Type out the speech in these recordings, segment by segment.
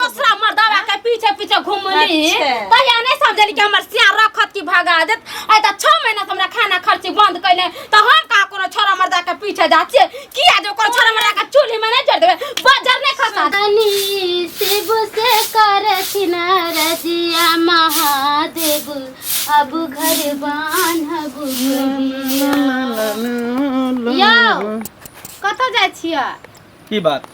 दूसरा मर्दावा के पीछे पीछे घूमली अच्छा। तहिया नहीं समझली कि हमर सिया रखत की भगा देत आइ त 6 महीना से हमरा खाना खर्ची बंद कइले त हम का कोनो छोरा मर्दा के पीछे जा छिए किया जो कोनो छोरा मर्दा के चूल्ही में नहीं चढ़ देबे बाजार नहीं खसा तनी शिव से करथिन रजिया महादेव अब घर बान्हब कहिया। यौ कतऽ जाइ छियै की बात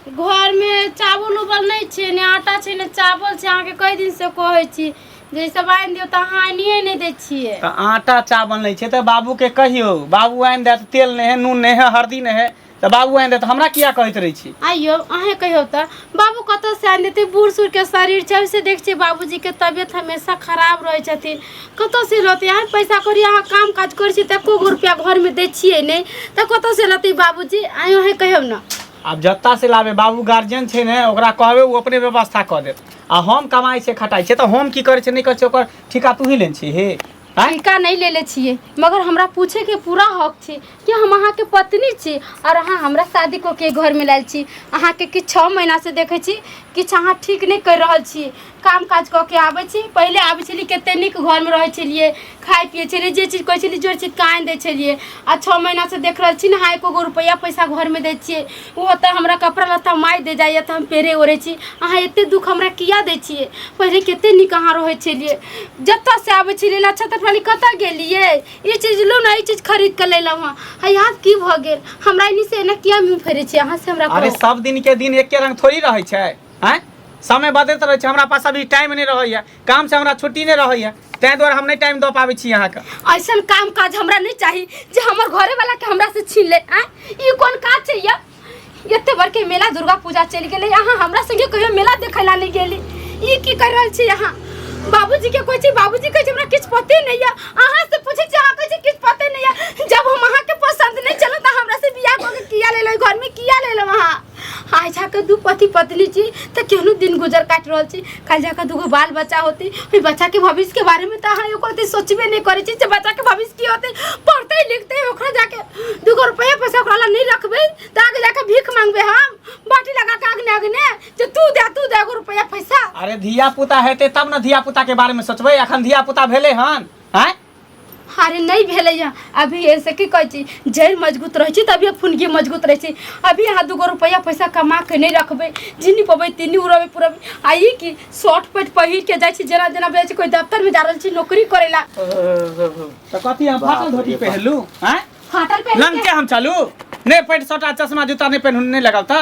घर मे चावल उबल नहि छै ने आटा छै ने चावल छै अहाँके कई दिन से कहै छी जे ई सब आनि दियौ तऽ अहाँ आनिए नहि दै छियै तऽ आटा चावल नहि छै तऽ बाबूके कहियौ बाबू आनि देत तेल नहि है नून नहि है हरदी नहि है तऽ बाबू आनि देत हमरा किया कहैत रहै छी आइयो अहें कहियौ तऽ बाबू कतऽ से आनि देतै बूढ़ सूढ़के शरीर छै ओहिसँ देख छियै बाबूजीके तबियत हमेशा खराब रहै छथिन कतऽ से लौतै आइ पैसा कौड़ी अहाँ काम काज करै छियै तऽ एको गो रुपैआ घरमे दै छियै नहि तऽ कतऽ से लौतै बाबूजी आइ अहाँ कहियौ ने आब जतऽ से लाबे बाबू गार्जियन छै ने ओकरा कहबै ओ अपने व्यवस्था कऽ देत आ हम कमाइ छै खटाइ छै तऽ हम की करै छै नहि करै छै ओकर ठिका तू ही लेने छी हे आँय? टीका नहि लेले छियै मगर हमरा पूछेके पूरा हक छै कि हम अहाँके पत्नी छी आओर अहाँ हमरा शादी कऽ के घरमे लायल छी अहाँके किछु छओ महीनासँ देखै छी किछु अहाँ ठीक नहि करि रहल छी काम काज कऽ के आबै छी पहिले आबै छलियै कते नीक घरमे रहै छलियै खाइ पियै छलियै जे चीज कहै छलियै जे चीज कान दै छलियै आ छओ महीनासँ देख रहल छी ने अहाँ एको गो रुपैआ पैसा घरमे दै छियै ओहो तऽ हमरा कपड़ा लत्ता माइ दे जाइए तऽ हम पेरे ओढ़ै छी अहाँ एते दुःख हमरा किया दै छियै पहिले कते नीक अहाँ रहै छलियै जतऽसँ आबै छलियै लच्छा तटवाली कतऽ गेलियै ई चीज लो ना ई चीज खरीद के ले लाऊ हां यहाँ की भ गेल हमरा इनी से ना किया मुंह फेरे छी अहाँ से हमरा अरे कहू। सब दिन के दिन एके रंग थोड़ी रहै छै हैं समय बदलैत रहै छै हमरा पास अभी टाइम नहि रहैए काम से हमरा छुट्टी नहि रहैए ताहि दुआरे हम नहि टाइम दऽ पाबै छी अहाँके ऐसन काम काज हमरा नहीं चाहिए जे हमर घरे वाला के हमरा से छीन ले आ ई कोन काज छै ये एते बड़के मेला दुर्गा पूजा चलि गेलै अहाँ हमरा संगे कहियो मेला देखै ला नहि गेली ई की कर रहल छी अहाँ बाबूजी के कहै छी बाबूजी कहै छै हमरा किछु पते नहि यऽ अहाँ से पूछै छी अहाँ कहै छी किछु पते नहि यऽ जब हम अहाँ के पसंद नहि चलो तऽ हमरा से बियाह कऽ के किया लेलो घर में किया लेलो अहाँ आइ जाके दू पति पत्नी छी तऽ केहनो दिन गुजर काटि रहल छी कल जाकर दूगो बाल बच्चा होती फिर बच्चा के भविष्य के बारे में तो अहाँ एको रति सोचबे नहीं करे छी जे बच्चा के भविष्य की होते पढ़ते लिखते ओकरा जाके दूगो रुपया पैसा ओकरा ला नहीं रखबे तो आगे जाके भीख मांगबे हम बाटी लगा के आगने आगने जे तू दे तू दे एगो रुपया पैसा अरे धिया पुता हेतै तब ने धिया पुता के बारे में सोचबै अखन धिया पुता भेलै हन हैं अरे नहीं भेले यहाँ अभी ऐसे की कहे छी जड़ मजबूत रहे छी तभी फुनगी मजबूत रहे छी अभी यहाँ दूगो रुपया पैसा कमा के नहीं रखबे जिनी पबे तिनी उड़बे पुरबे आ ई की शॉर्ट पैंट पहिर के जाय छी जेना जेना भेल छी कोई दफ्तर में जा रहल छी नौकरी करेला तो कथी हम बाप फाटल धोती रे बाप। पहनलू हैं फाटल पे लंग के हम चलू नहीं पैंट शर्ट आ चश्मा जूता नहीं पहनू नहीं लगाव ता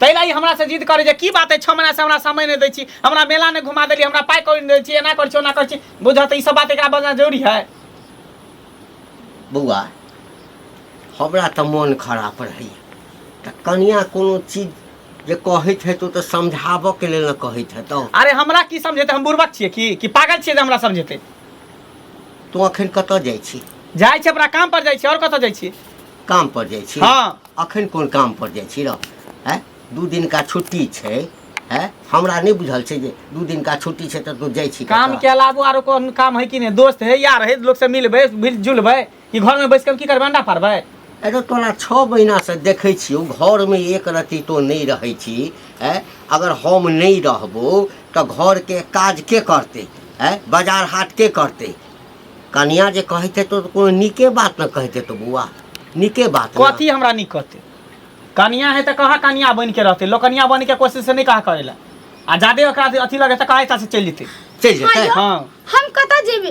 ताहि लए ई हमरासँ जिद करै जे की बात अइ छओ महीनासँ हमरा समय नहि दै छी हमरा मेला नहि घुमा देलियै हमरा पाइ कौड़ी नहि दै छी एना करै छी ओना करै छी बुझऽ तऽ ई सब बात एकरा बजना जरूरी है बौआ हमरा तऽ मोन खराब रहैए तऽ कनिया कोनो चीज जे कहैत हेतौ तऽ समझाबऽके लेल ने कहैत हेतौ अरे हमरा की समझेतै हम बुर्बक छियै की कि पागल छियै जे हमरा समझेतै तू अखन कतऽ जाइ छी जाइ छी अपना काम पर जाइ छी और कतऽ जाइ छी काम पर जाइ छी हँ। अखन कोन काम पर जाइ छी रौ हैं दू दिनका छुट्टी छै हैं हमरा नहि बुझल छै जे दू दिनका छुट्टी छै तऽ तू जाइ छी काम कतऽ? के अलावो आरो कोन काम है कि नहीं दोस्त है यार है लोग से मिलबै मिल जुलबै कि घर में बैस के हम की करबै अंडा पारबै अरे तोरा छओ महीनासँ देखै छियौ घरमे एक रत्ती तो नहि रहै छी हैं अगर हम नहि रहबो तऽ घरके काज के करतै हैं बाजार हाट के करतै कनिया जे कहते तो कोनो नीके बात न कहते तो बुआ नीके बात न। कथी हमरा नहीं कहते कनिया है तो कहा कनिया बन के रहते लोकनिया बन के कोशिश से नहीं कहा करेला आ जादे ओकरा अथी लगे तो कहा ऐसा से चल जेते चल जेते आइयो, हाँ। हम कतऽ जेबे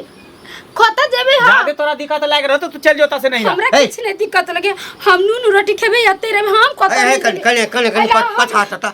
कतऽ जेबे हम जादे तोरा दिक्कत लाग रहते तू चल जोता से नहीं हमरा ए। किछु नहि दिक्कत लगे हम नून रोटी खेबै एते रहबै हम कतऽ ए, ए, नहि कन- जेबै। कने कने कने अरे, हम- पछा हटा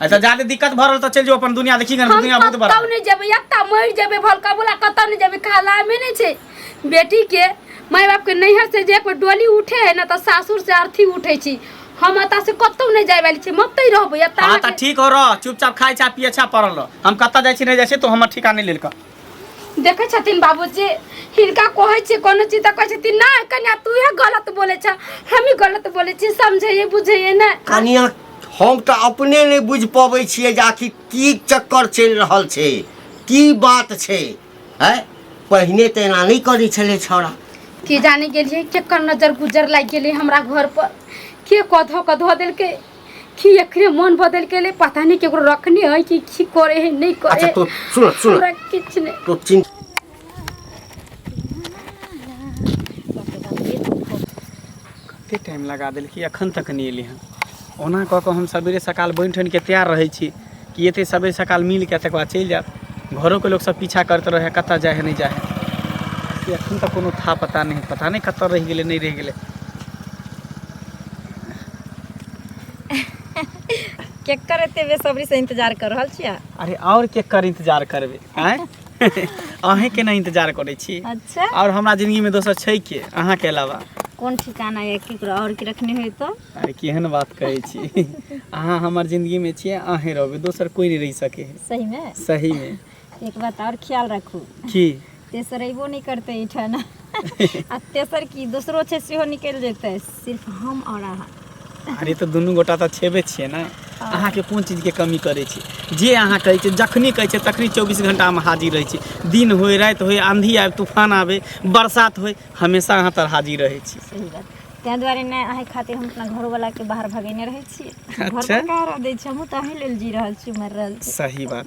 अच्छा जादे दिक्कत भरल त चल जो अपन दुनिया देखी गन दुनिया बहुत बड़ा कतौ नहीं जेबे एकटा मर जेबे भल कबुला कतौ नहीं जेबे खाला में नहीं छे बेटी के माय बाप के नैहर से जे कोई डोली उठे है ना त सासुर से अर्थी उठे छी हम अता से कतौ नहीं जाय वाली छी मतै रहबो एता हां त ठीक हो रह चुपचाप खाय छा पिए छा पड़ल रह हम कत जाय छी नहीं जाय छी तो हमर ठिकाना नहीं लेलका देखे छथिन बाबूजी हिनका कहे छी कोनो चीज त कहे छथिन ना कन्या तू गलत बोले छ हम ही गलत बोले छी समझे बुझे ना कन्या हम तऽ अपने नहि बुझि पबै छियै जे आखिर की चक्कर चलि रहल छै की बात छै है पहिने तऽ एना नहि करै छलै छौड़ा की जाने गेलियै केकर नजर गुजर लागि गेलै हमरा घर पर के कधो के धो देलकै की एकरे मन बदल गेलै पता नहि केकरो रखने है कि की करे है नहि करे अच्छा है तो सुन सुन हमरा किछु नहि तो चिंता कतेक टाइम लगा देलकै एखन तक नहि एलै हँ ओना कऽ कऽ हम सबेरे सकाल बनि ठनि कऽ तैयार रहै छी कि एतै सबेरे सकाल मिल कऽ तकर बाद चलि जायब घरोके लोक सब पीछा करैत रहै कतऽ जाइ है नहि जाइ है एखन तक कोनो था पता नहि है पता नहि कतऽ रहि गेलै नहि रहि गेलै केकर एते बेसब्री से इंतजार कर रहल छियै अरे आओर केकर इंतजार करबै आँय अहें के ना इंतजार करे छी अच्छा और हमरा जिंदगी में दोसर छै के अहाँ के अलावा कोन ठिकाना या केकरो और के रखने होय तो अरे केहन बात कहे छी अहाँ हमर जिंदगी में छियै अहें रहबे दोसर कोई नहीं रह सके है सही में सही में एक बात और ख्याल रखू की तेसर अयबो नहीं करते एठाना आ तेसर की दोसरो छै सेहो निकलि जेतै सिर्फ हम और अहाँ अरे तऽ दुनू गोटा तऽ छेबे छियै ने अहाँके कोन चीजके कमी करै छी जे अहाँ कहै छियै जखनी कहै छियै तखनी चौबीस घंटामे हाजिर रहै छी दिन होय राति होय आंधी आबि तूफान आबे बरसात होय हमेशा अहाँ तर हाजिर रहै छी सही बात ताहि दुआरे नहि अहाँ खातिर हम अपना घरवलाके बाहर भगेने रहै छियै घर अच्छा। पर कहाँ रह दै छी हमहूँ तऽ अहीं लेल जी रहल छी मरि रहल छी सही बात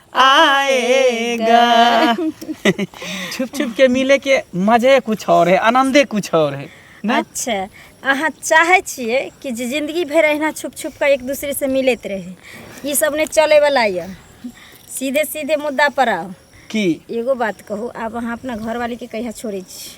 आएगा छुप छुप के मिले के मजे कुछ और है आनंदे कुछ और है ना अच्छा अहाँ चाहे छियै कि जे जिंदगी भरि अहिना छुप छुप कऽ एक दूसरे से मिलैत रहे ई सब नहि चले वाला यऽ सीधे सीधे मुद्दा पर आउ की एगो बात कहू आब अहाँ अपना घरवाली के कहिया छोड़ै छी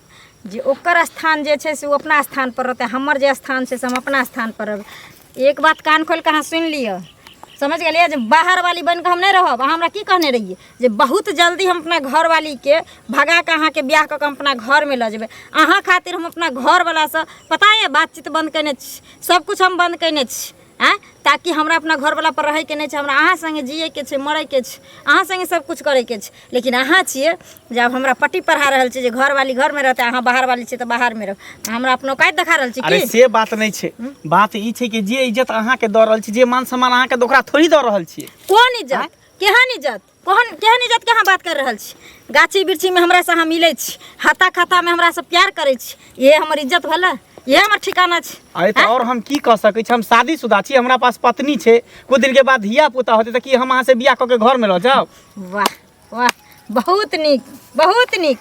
जे ओकर स्थान जे छै से ओ अपना स्थानपर रहतै हमर जे स्थान छै से हम अपना स्थानपर रहबै एक बात कान खोलि कऽ अहाँ सुनि लिअ समझ गेलियै जे बाहरवाली बनि कऽ हम नहि रहब अहाँ हमरा की कहने रहियै जे बहुत जल्दी हम अपना घरवालीके भगा कऽ अहाँके बियाह कऽ कऽ हम अपना घरमे लऽ जेबै अहाँ खातिर हम अपना घरवलासँ पता यए बातचीत बन्द कयने छी सभकिछु हम बन्द कयने छी आँय ताकि हमरा अपना घरवला पर रहैके नहि छै हमरा अहाँ सङ्गे जियैके छै मरैके छै अहाँ सङ्गे सब किछु करैके छै लेकिन अहाँ छियै जे आब हमरा पट्टी पढ़ा रहल छियै जे घरवाली घरमे रहतै अहाँ बाहरवाली छियै तऽ बाहरमे रहू अहाँ हमरा अपना औकात देखा रहल छी अरे की से बात नहि छै बात ई छै कि जे इज्जत अहाँके दऽ रहल छी जे मान सम्मान अहाँके तऽ ओकरा थोड़ी दऽ रहल छियै कोन इज्जत केहन इज्जत कोहन केहन इज्जत के अहाँ बात कर रहल छी गाछी बिरछी में हमरा से अहाँ मिले छी हाथा खाता में हमरा से प्यार करे छी ये हमर इज्जत भला ये हमर ठिकाना छी अरे तो और हम की कह सके छी हम शादीशुदा छी हमरा पास पत्नी छे कुछ दिन के बाद धिया पुता होते तो की हम अहाँ से बियाह क के घर में रह जाओ वाह वाह बहुत नीक बहुत नीक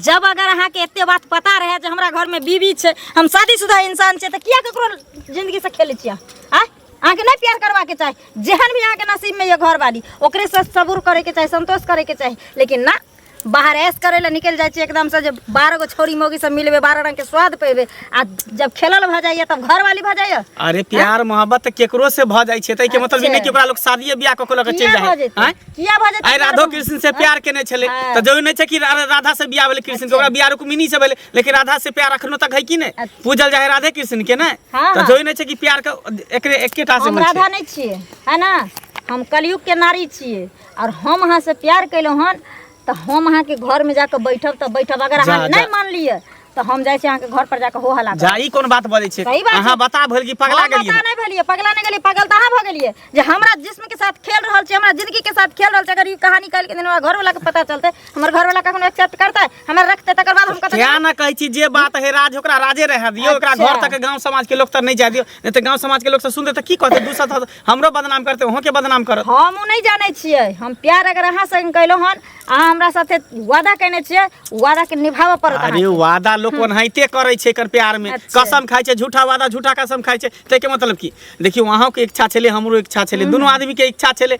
जब अगर अहाँके एते बात पता रहे जे हमरा घर में बीवी छै हम शादीशुदा इंसान छै तऽ किया ककरो जिंदगी से खेलै छियै आ अहाँ के नहीं प्यार करवा के चाहे जेहन भी अहाँ के नसीब में ये घर वाली ओकरे से सबूर करे के चाहे संतोष करे के चाहे लेकिन ना बाहर ऐश करे ला निकल जाए छियै एकदम से जब बारह गो छोरी मोगी सब मिलबे बारह रंग के स्वाद पेबे आ जब खेलल भ जाइए तब घर वाली भ जाइए अरे प्यार मोहब्बत केकरो से भ जाय छै तै के मतलब ई नै कि ओकरा लोग शादी ब्याह क के लग चल किया भ जाय जेतै हैं किया भ जेतै आइ राधो कृष्ण से प्यार केने छलै तऽ जरूरी नहि छै कि रा- राधा से बियाह भेलै कृष्ण के ओकरा बियाह रुक्मिणी से भेलै लेकिन राधा से प्यार अखनो तक है कि नहीं अच्छा। पूजल जाए राधे कृष्ण के नहीं हाँ, तो हाँ। जोई नहीं छे कि प्यार के एकरे एकेटा से हम मन राधा छे नहीं छिए है ना हम कलयुग के नारी छिए और हम अहाँ से प्यार कैलहुँ हन तो हम अहाँ के घर में जाके बैठब तो बैठब अगर जा, अहाँ जा। नहीं मान लिए तो हम जाइ छी अहाँ के घर पर जाके हो हला करब। जा ई कोन बात बोले छे सही बात अहाँ छै। बता भल कि पगला हम गेलिए पता नहीं भेलिए पगला नहीं गेलिए पगल तो अहाँ भऽ गेलिए जे हमरा जिस्म के साथ खेल रहल छै हमरा जिंदगी के साथ खेल रहल छै अगर ई कहानी काल्हि के दिन हमरा घर वाला के पता चलते हमर घर वाला कखनो एक्सेप्ट करतै हमरा रखते तकर बाद हम कतऽ क्या ना कहै छी जे बात है राज ओकरा राजे रह दियो ओकरा अच्छा। घर तक गांव समाज के लोग तक नहीं जा दियो नहीं तो गांव समाज के लोग से सुनते तो की कहते दूसरा तो हमरो बदनाम करते ओहो के बदनाम करत हम उ नहीं जाने छियै हम प्यार अगर अहाँ संग कैलो हन अहाँ हमरा साथे वादा केने छियै उ वादा के निभाबऽ पड़त अरे अहाँके। वादा लोग ओनाहिते करे छै कर प्यार में अच्छा। कसम खाय छै झूठा वादा झूठा कसम खाय छै ते के मतलब की देखियो वहां के इच्छा छले हमरो इच्छा छले दोनों आदमी के इच्छा छले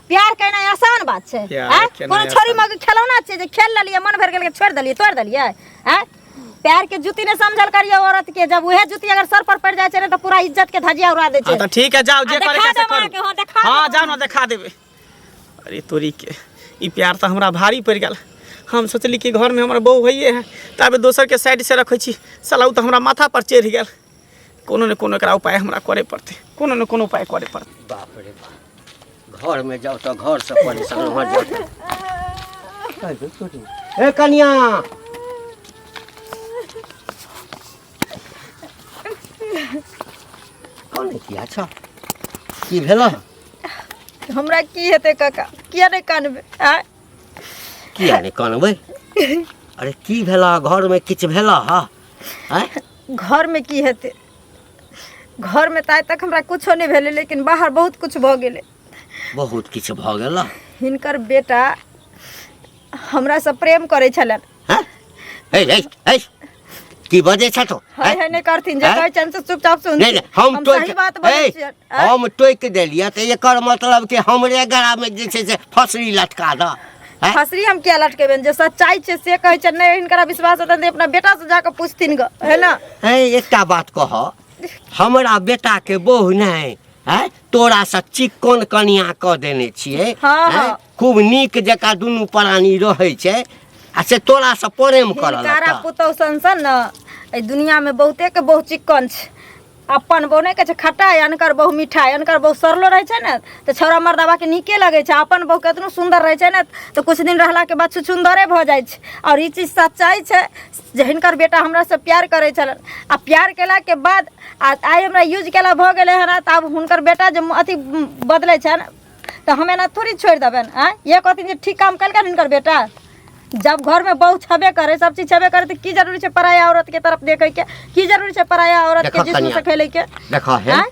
प्यार कहना आसान बात छै हैं कोनो छोरी मग खेलौना छै जे खेल ललिए मन भर गेल के छोड़ दलिए तोड़ दलिए हैं प्यार के जूती ने समझल करिए औरत के जब उहे जूती अगर सर पर पड़ जाए छै तो पूरा इज्जत के धजिया उड़ा दे छै हां त ठीक है जाओ जे करे के से करू हां जाओ ना दिखा देबे अरे तोरी के ई प्यार त हमरा भारी पड़ गेल हम सोचली कि घर में हमर बहू होइए है तब दोसर के साइड से रखे छी साला उ त हमरा माथा पर चढ़ गेल कोनो ने कोनो एकरा उपाय हमरा करे पड़ते कोनो ने कोनो उपाय करे पड़ते बाप रे बाप घर में जाओ तो घर से परेशान हो जाओ ए कन्या कौन है किया अच्छा की भेला हमरा की हेतै काका किया नहि कानबै आँय किया ने कानबै अरे की भेला घर में किछ भेला हा हैं घरमे की हेतै घरमे तऽ आइ तक हमरा किछो नहि भेलै लेकिन बाहर बहुत किछु भऽ गेलै बहुत किछु भऽ गेल ने हिनकर बेटा हमरासँ प्रेम करै छलनि हैं? है, है, है। की बजै छथु है हैं? है नहि करथिन जे हैं? कहै छनि से चुपचाप सुन नहि नहि हम टोकि सही बात बजै है, छियनि आँय? हम टोकि देलियै तऽ एकर मतलब कि हमरे गलामे जे छै से फसरी लटका दऽ हैं? फसरी हम किया लटकेबे जे सच्चाई छै से कहै छै नहि हिनकरा विश्वास हेतनि तऽ अपना बेटा से जाके पूछथिन ग है ना हैं एकटा बात कह हमरा बेटा के बहु नहीं है तोरा से चिक्कन कनिया क देने छिए हाँ, हैं? हाँ। खूब नीक जका दुनू प्राणी रहै छै आ से तोरा से प्रेम करल हिनकारा पुतौ सन सन न एहि दुनिया में बहुते के बहुत चिक्कन छै अपन बहु नहि कहै छै खटाइ अनकर बहु मिठाइ अनकर बहु सरलो रहै छै ने तऽ छौड़ा मर्दाबाके नीके लगै छै अपन बहु केतनो सुन्दर रहै छै ने तऽ किछु दिन रहलाके बाद छुछुन्दरे भऽ जाइ छै आओर ई चीज सच्चाइ छै जे हिनकर बेटा हमरासँ प्यार करै छलनि आ प्यार केलाके बाद आ आइ हमरा यूज केला भऽ गेलै हन तऽ आब हुनकर बेटा जे अथी बदलै छनि तऽ हम एना थोड़ी छोड़ि देबनि आँय इहे कहथिन जे ठीक काम केलकनि हिनकर बेटा जब घरमे बहू छबे करे सब चीज छबे करे तऽ की जरूरी छै पराया औरतके तरफ देखैके की जरूरी छै पराया औरतके देखत जिसमें कनिया। से खेलैके देख हे आँय?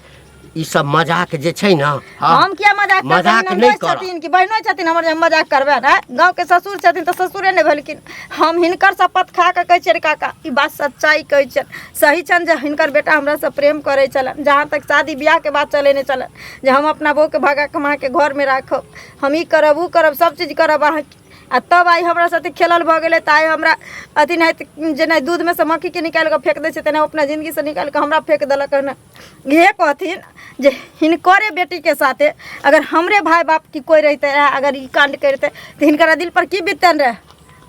ई सब मजाक जे छै ने हाँ, हम किया मजाक करबै? मजाक ननदोसि नहि करब। छथिन कि बहिनो छथिन हमर जे हम मजाक करबै ने गाँव के ससुर छथिन तऽ ससुरे ने भेलखिन हम हिनकर शपथ खा कऽ कहै छियै रे काका ई बात सच्चाइ कहै छियनि सही छनि जे हिनकर बेटा हमरासँ प्रेम करै छलनि जहाँ तक शादी बियाहके बात चलेने छलनि जे हम अपना बहूके भगा कऽ अहाँके घरमे राखब हम ई करब ओ करब सब चीज करब अहाँके आ तब आइ हमरा साथे खेलल भऽ गेलै तऽ आइ हमरा अथी नहि जेना दूधमे से मक्खीके निकालि कऽ फेंक दै छै तेना अपना जिन्दगीसँ निकालि कऽ हमरा फेंक देलक हन इहे कहथिन जे हिनकरे बेटीके साथे अगर हमरे भाय बाप की कोइ रहिते रहए अगर ई कांड करिते तऽ हिनकरा दिल पर की बीततनि रहए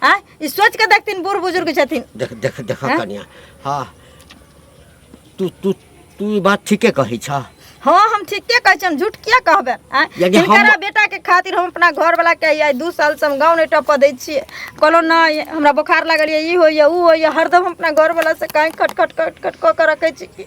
आ ई सोच के देखथिन बूढ़ बुजुर्ग छथिन देख देख देख हैं? कनिया हाँ तू तू तू ई बात ठीके कहै छ हाँ हम ठीके कहै छी हम झूठ किया कहबे आ यदि हम- हिनकरा बेटा के खातिर हम अपना घर वाला के आइ दू साल से हम गाँव नहीं टपऽ दै छियै कहलो नहि हमरा बोखार लागल ये ई होइए ऊ होइए हरदम हम अपना घर वाला से कहीं खट खट खट खट कऽ के रखै छी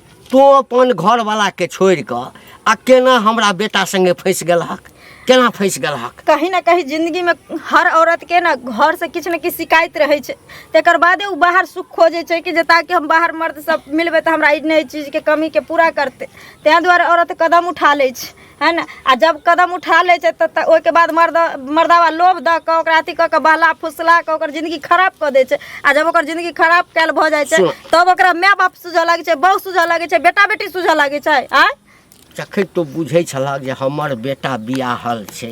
तो अपन घरवलाके छोड़ि कऽ आ केना हमरा बेटा सङ्गे फँसि गेलहक केना फँसि गेलहक कहीं ना कहीं जिंदगी में हर औरत के ना घर से किछु ने किछु शिकायत रहे छै तेकर बादे उ बाहर सुख खोजे छै कि जे ताकि हम बाहर मर्द सब मिलबे तऽ हमरा ई नहि चीज के कमी के पूरा करते ताहि दुआरे औरत कदम उठा लै छै है ने आ जब कदम उठा लै छै तऽ ओहिके बाद मर्द मर्दावा लोभ दऽ कऽ ओकरा अथी कऽ कऽ बहला फुसला कऽ ओकर जिन्दगी खराब कऽ दै छै आ जब ओकर जिन्दगी खराब कयल भऽ जाइ छै तब ओकरा माय बाप सुझऽ लागै छै बहु सुझऽ लागै छै बेटा बेटी सुझऽ लागै छै आँय जखन तो बुझै छलह जे हमर बेटा बियाहल छै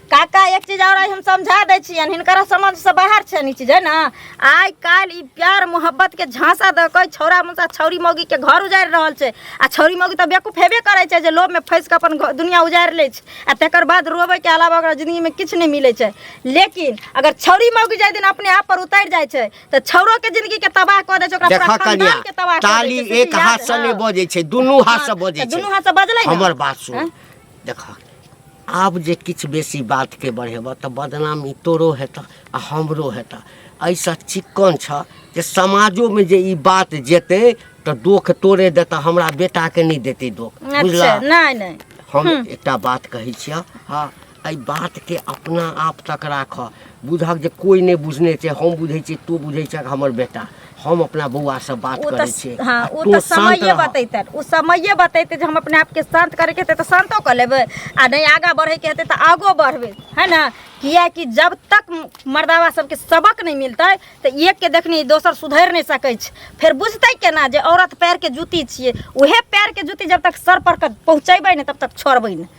काका एक चीज और हम समझा दै छियनि हिनकरा समझ से बाहर छनि ई चीज है ना आइ काल्हि ई प्यार मोहब्बत के झांसा दऽ कऽ छौरा मुसा छौरी मौगी के घर उजारि रहल छै आ छौरी मौगी तऽ बेवकूफ हेबे करै छै जे लोभ में फंसि कऽ अपन घ- दुनिया उजारि लै छै आ तकर बाद रोबै के अलावा ओकरा जिंदगी में किछु नहि मिलै छै लेकिन अगर छौरी मौगी जाहि दिन अपने आप पर उतरि जाइ छै तऽ छौरो के जिंदगी के तबाह कऽ दै छै ओकरा देखा पूरा कनिया खानदान के तबाह कऽ दै ताली छै, से एक चीज हाथ याद- से नहि हँ। बजै छै दुनू हाथ से बजै तऽ छै दुनू हाथ से बजलै ने? हमर बात सुन हँ? देख आब जे किछु बेसी बातके बढ़ेबह तऽ बदनामी तोरो हेतह आ हमरो हेतह एहिसँ चिक्कन छह जे समाजोमे जे ई बात जेतै तऽ दोख तोरे देतह हमरा बेटाके नहि देतै दोख अच्छा बुझलह नहि नहि हम एकटा बात कहै छियह हँ एहि बातके अपना आप तक राखह बुझक जे कोई नहि बुझने छै हम बुझै छियै तू बुझै छक हमर बेटा हम अपना बौआ से बात ओ करै तऽ छियै हँ आ ओ तू तऽ शान्त समये रहऽ। बतैते ओ समये बतैते जे हम अपने आपके शान्त करैके हेतै तऽ शान्तो कऽ लेबै आ नहि आगाँ बढ़ैके हेतै तऽ आगो बढ़बै है ने किएकि जब तक मर्दावा सबके सबक नहि मिलतै तऽ एकके देखनी दोसर सुधरि नहि सकै छै फेर बुझतै केना जे औरत पैरके जूती छियै उहे पैरके जूती जब तक सर पर के पहुँचेबै ने तब तक छोड़बै नहि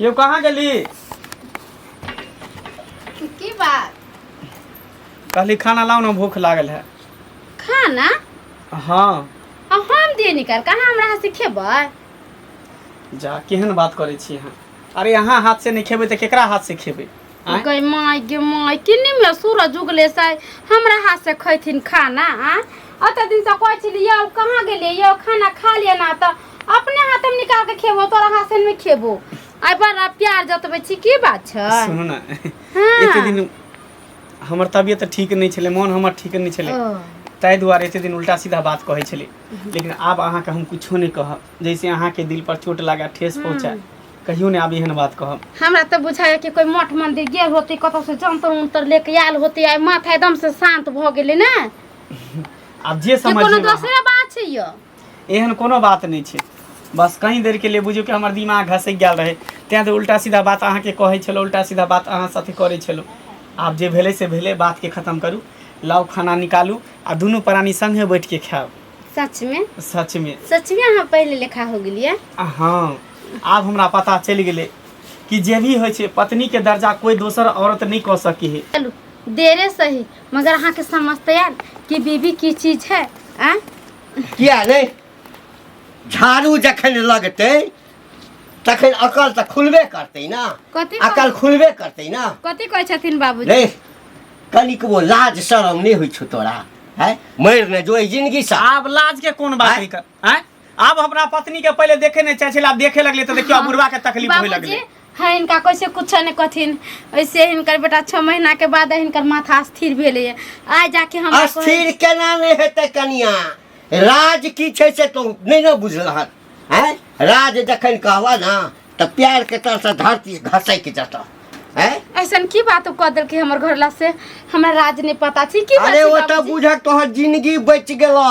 यो कहाँ गेली की बात कहली खाना लाओ ना भूख लागल है खाना हाँ आ हम दिए निकाल कहाँ हमरा हाथ से खेबै जा केहन बात करै छी अहाँ अरे अहाँ हाथ से नहीं खेबै तऽ केकरा हाथ से खेबै आँय? गई माय गे माय किन्नी में सूरज उगले से हमरा हाथ से खैथिन खाना आ अत दिन से कहै छली यौ कहाँ गेलिए यौ खाना खा लिया ना त अपने हाथ हम निकाल के खेबो तोरा हाथ से में खेबो आई बड़ा प्यार जतबै छी की बात छै सुनू ने हाँ। एते दिन हमर तबियत तऽ ठीक नहि छलै मोन हमर ठीक नहि छलै ओ, ताहि दुआरे एते दिन उल्टा सीधा बात कहै छलै लेकिन आब अहाँके हम किछो नहि कहब जैसे अहाँके दिल पर चोट लगा ठेस पहुँचा कहियो ने आब एहन बात कहब हमरा तऽ बुझाइए कि कोइ मठ मन्दिर गेल होती कतौसँ जन्तर उन्तर लेके आयल होती आइ माथा एकदम से शान्त भऽ गेलै ने कि आब जे समझ कोनो दोसरे बात छै यौ एहन कोनो बात नहि छै बस कहीं देर के लिए बुझियौ कि हमर दिमाग घसकि गेल रहै तें तऽ उल्टा सीधा बात अहाँके कहै छलहुँ उल्टा सीधा बात अहाँ साथे करै छलहुँ आब जे भेलै से भेलै बातके खत्म करू लाउ खाना निकालू आ दुनू प्राणी संगे बैठ के खायब सचमे सचमे सचमे अहाँ पहिले लेखा हो गेलियै आ हँ आब हमरा पता चलि गेलै कि जे भी होइ छै पत्नी के दर्जा कोई दोसर औरत नहीं कह सकी है चलू देरे सही मगर अहाँके समझते आयल कि बीबी की चीज है आ? किया नहि झाड़ू जखन लगतै तखन अकल तऽ खुलबे करतै ने कथी कह- अकल खुलबे करतै ने कथी कहै छथिन बाबूजी रे कनिकबो लाज शरम नहि होइ छौ तोरा है मरि ने जो एहि जिनगीसँ आब लाज के कोन बात है कर हैं आब अपना पत्नी के पहले देखे नहीं चाहे छला आब देखे लगले तो देखियो आब बुढ़वा के तकलीफ होय बाबूजी लगले है इनका कैसे कुछ नहीं कथिन ऐसे हिनकर बेटा छः महीना के बाद हिनकर माथा स्थिर भेले है आ जाके हम अस्थिर केना नहि हेतै कनिया राज की छै से तो नहि ने बुझलहन हैं राज जखन कहबह ने तऽ प्यार के तरह से धरती घसैक जेतह हैं ऐसा की बात कह दिल के हमर घर ला से हमरा राज नहीं पता छी की अरे बात ओतऽ बुझक तोहर जिंदगी बचि गेलह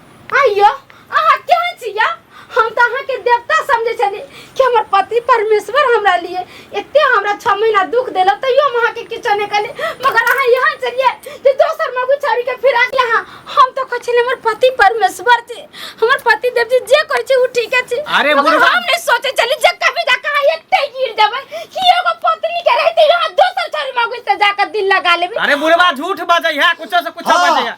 आइयो अहाँ केहन छी या हम तऽ अहाँके देवता समझै छली कि हमर पति परमेश्वर हमरा लिए एते हमरा छः महीना दुख देलक तैयो हम अहाँके किछो नहि कहली मगर अहाँ यहाँ चलिए जे दोसर मगु छोड़ी के फिरा के यहाँ हम तो कहै छली हमर पति परमेश्वर छी हमर पति देव जी जे कहै छी उ ठीके छी अरे मगर बुढ़वा- हम नहीं सोचे चली जे कभी जा कहाँ एते गिर जाबै कि एगो पत्नी के रहते यहाँ दोसर छोड़ी मगु से जाकर दिल लगा लेबे अरे बुढ़वा झूठ बाजै है कुछ से कुछ हाँ। बाजै है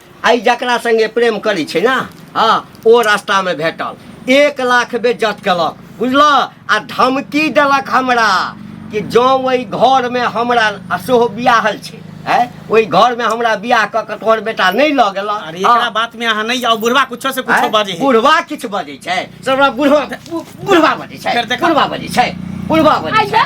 आइ जकरा संगे प्रेम करै छै ने हँ ओ रास्तामे भेटल एक लाख बेज्जत केलक बुझलऽ आ धमकी देलक हमरा कि जँ ओहि घरमे हमरा आ सेहो बियाहल छै आँय ओहि घरमे हमरा बियाह कऽ कऽ तोहर बेटा नहि लऽ गेलऽ अरे एकरा हँ, बात में अहाँ नहीं जाओ बुढ़वा कुछो से कुछो आँय, बाजे है बुढ़वा किछु बजै छै सबरा बुढ़वा बुढ़वा बजै छै फेर देखा। बुढ़वा बजै छै बुढ़वा बजै छै आइया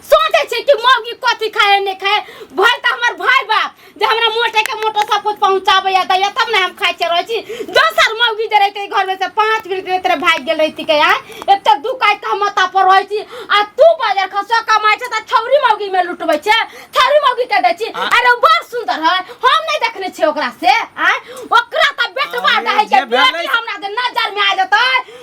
सोचे छे कि मौगी कथी खाए ने खाए भल त हमर भाई बाप जे हमरा मोटे के मोटो सब कुछ पहुंचाबे या दैया तब ना हम खाए छे रहे छी दोसर मौगी जे रहते घर में से पाँच मिनट में तेरे भाग गेल रहती के यार एक तो दू काट हम माता पर रहे छी आ तू बाजार खसो कमाए छे त छौरी मौगी में लुटबे छे छौरी मौगी के दे छी आ- अरे बड़ सुंदर है हम नहीं देखने छे ओकरा से आ ओकरा त बेटवा आ, दहे जे के भेलै- बेटी हमरा दे नजर में आ जतै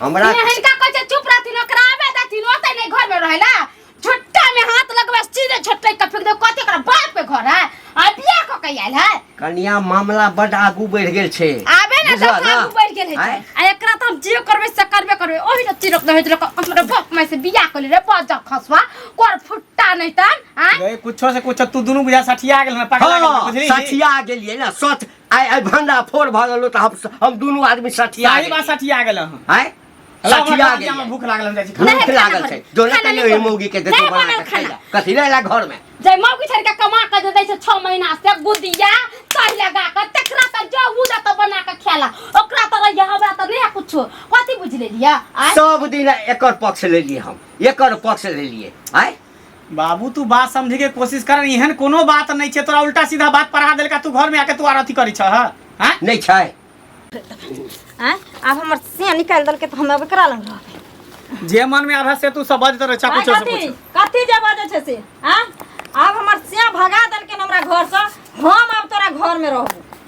हमरा हमरा हिनका कहै छै चुप रहथिन ओकरा आबे देथिन ओते नहीं घर में रहेला छोटा में हाथ लगबे सीधे छोटे के फेंक दे कते ओकरा बाप के घर है आ बियाह क के आयल है कनिया मामला बड आगू बढ़ गेल छै आबे ना बुझल दस ना? आगू बढ़ गेल है आँय? आ एकरा त हम जे करबे से करबे करबे ओही न चिरक दे होइत हमरा बाप में से बियाह कर ले रे बाजा खसवा कर फुट्टा नहीं तन आय ए, कुछो से कुछो तू दुनू बुझा सठिया गेल ना पकड़ा गेल ना, हाँ, बुझली सठिया गेलियै ना सठ आइ आइ भंडा फोड़ भऽ गेलो तऽ हम हम दुनू आदमी सठिया सारी बात सठिया गेल हँ आइ सठिया गेल हमरा भूख लागल हम जाइ छी खाना। भूख लागल छै जो ने कहियो ई मौगी के देतो बना के खाइला कथी ले ला घर में जय माँ की छड़का कमा के दे दै छै 6 महीना से गुदिया चाय लगा के तकरा त जो उदा त बना के खेला ओकरा त रहिया हमरा त नहीं कुछो कथी बुझ लेलिया आय सब दिन एकर पक्ष ले लिए हम एकर पक्ष ले लिए आय बाबू तू बात समझे के कोशिश कर एहन कोनो बात नहीं छे तोरा उल्टा सीधा बात पढ़ा देलका तू घर में आके तू आर अथी करी छ हैं नहीं छै आँय आब हमर से निकालि देलकै तऽ हम अब एकरा लग रहबै जे मन में आधा से तू सब बात तर चाकू आँय, चोर से कथी पूछ कथी जे बाजै छै से आँय आब हमर से भगा देलकै हमरा घरसँ हम आब तोरा घरमे रहबो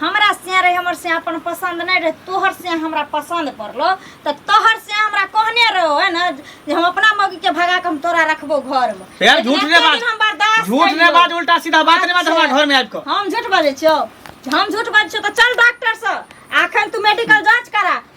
हमरा से रहे हमर से अपन पसंद नहीं रहे तोहर से हमरा पसंद पड़लो तो तोहर से हमरा कहने रहो है ना जे हम अपना मौगी के भगा के हम तोरा रखबो घर में यार लेकिन झूठ ने एते बात दिन हम बर्दाश्त झूठ ने कइलो। बात उल्टा सीधा बात ने बात अच्छा। हमरा घर में आबि कऽ हम झूठ बाजै छियो हम झूठ बाजै छियो तऽ चल डॉक्टर से अखन तू मेडिकल जांच करा